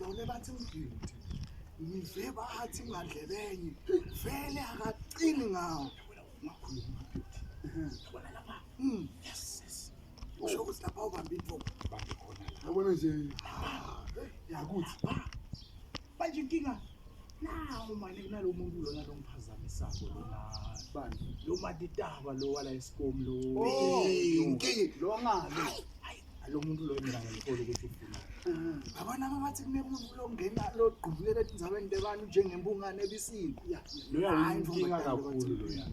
None bathi mgidi. Ngive bathi ngadlebenye. Vele akacini ngawo. Ngakhuluma mgidi. Bona lapha. Mm. Yes. Usho ukuthi lapha ubamba into. Bambe khona. Yabona nje. Yakuthi. Manje inkinga nawo manje kunalo muntu lona lomphazamisako lona. Bani? Lo matitaba lo wala esikomu lo. Oh, inkinga lo ngalo. lo muntu loyo mina ngimthole ukuthi ufuna abana abathi kunemuntu longena logqubulela etinzaweni tebani njengembungane ebisini loyo ayinkinga kakhulu loyo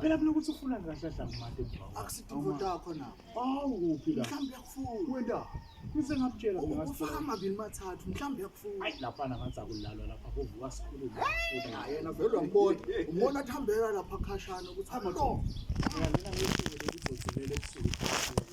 phela mina ukuthi ufuna kahle dlamate akusidingo takho na awu kuphi la mhlawumbe yakufuna wenda kuze ngakutshela mina ufaka amabili mathathu mhlawumbe yakufuna hayi lapha ngathi akulalwa lapha kuvuka sikhulu yena vele wambona umbona athambela lapha khashana ukuthi hamba mina ngisho ukuthi uzozivela ebusuku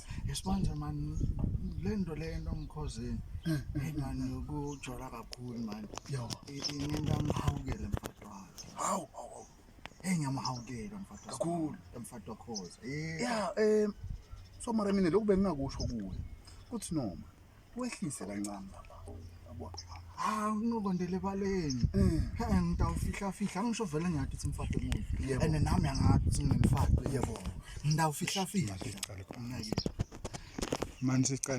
ngizokuletha yesibanje mani le nto le nto mkhozini eyi mani yokujola kakhulu mani yo inento angihawukele mfati wakhe hawu hawu eyi ngiyamhawukela mfati kakhulu mfati wakhoza ya um so mara mina lokhu bengingakusho kuwe kuthi noma wehlise kancane lapha yabo hayi unokondele baleni eh. he ngitawufihla fihla angisho vele ngiyathi uthi mfake muntu and nami angathi uthi ngimfake yebo ngitawufihla fihla manje siqale